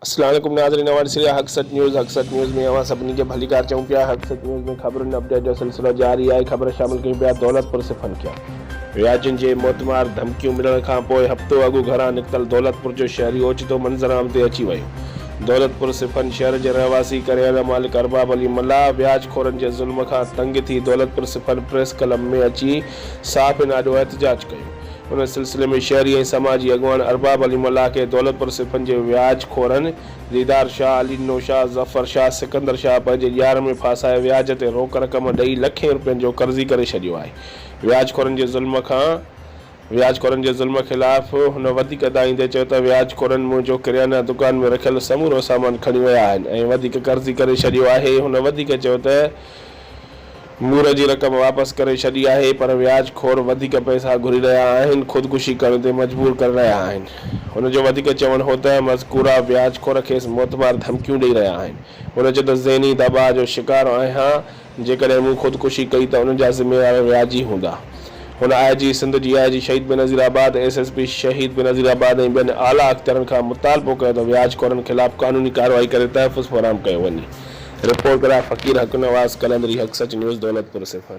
السلام عليڪم ناظرين اوهان ڏسي رهيا حق سچ نيوز حق سچ نيوز ۾ اوهان سڀني کي ڀليڪار چئون پيا حق سچ نيوز ۾ خبرن اپڊيٽ جو سلسلو جاري آهي خبر شامل ڪيون پيا دولت پور سفن کيا وياجن جي موتمار ڌمڪيون ملڻ کان پوء هفتو اڳ گهران نڪتل دولت پور جو شهري اوچتو منظرعام تي اچي ويو دولتپور سپن شهر جي رهواسي ڪريانا مالڪ ارباب علي ملاح وياج خورن جي ظلم کان تنگ ٿي دولتپور سپن پريس ڪلب ۾ اچي صحافين آڏو احتجاج ڪيو ان سلسلي ۾ شهري ۽ سماجي اڳواڻ ارباب علي ملاح کي دولتپور سپن جي وياج خورن ديدار شاهه علي نو شاهه ظفر شاهه سڪندر شاهه پنهنجي ڄار ۾ ڦاسائي وياج تي روڪ رقم ڏئي لکين روپين جو قرضي ڪري ڇڏيو آهي وياج خورن جي ظلم کان وياج خورن جي ظلم خلاف هن وڌيڪ ادائيندي چيو ته وياج خورن منهنجو ڪريانه دڪان ۾ رکيل سمورو سامان کڻي ويا آهن ۽ وڌيڪ قرضي ڪري ڇڏيو آهي هن وڌيڪ چيو ته مور جي رقم واپس ڪري ڇڏي آهي پر وياج خور وڌيڪ پئسا گهري رهيا آهن خودڪشي ڪرڻ تي مجبور ڪري رهيا آهن هن جو وڌيڪ چوڻ هو ته مذڪوره وياج خور کيس موتمار ڌمڪيون ڏئي رهيا آهن هن چيو ته ذهني دٻاء جو شڪار آهيان جيڪڏهن مون خودڪشي ڪئي ته ان جا ذميوار وياجي هوندا. هن آء جي Sindh, D I G Shaheed Benazirabad, S S P Shaheed Benazir آباد ۽ ٻين اعليٰ اختيارن کان مطالبو ڪيو ته وياج خورن خلاف قانوني ڪارروائي ڪري تحفظ فراهم ڪيو وڃي. رپورٽ گرافڪير حقنواز قلندري حق سچ نيوز دولتپور صفر.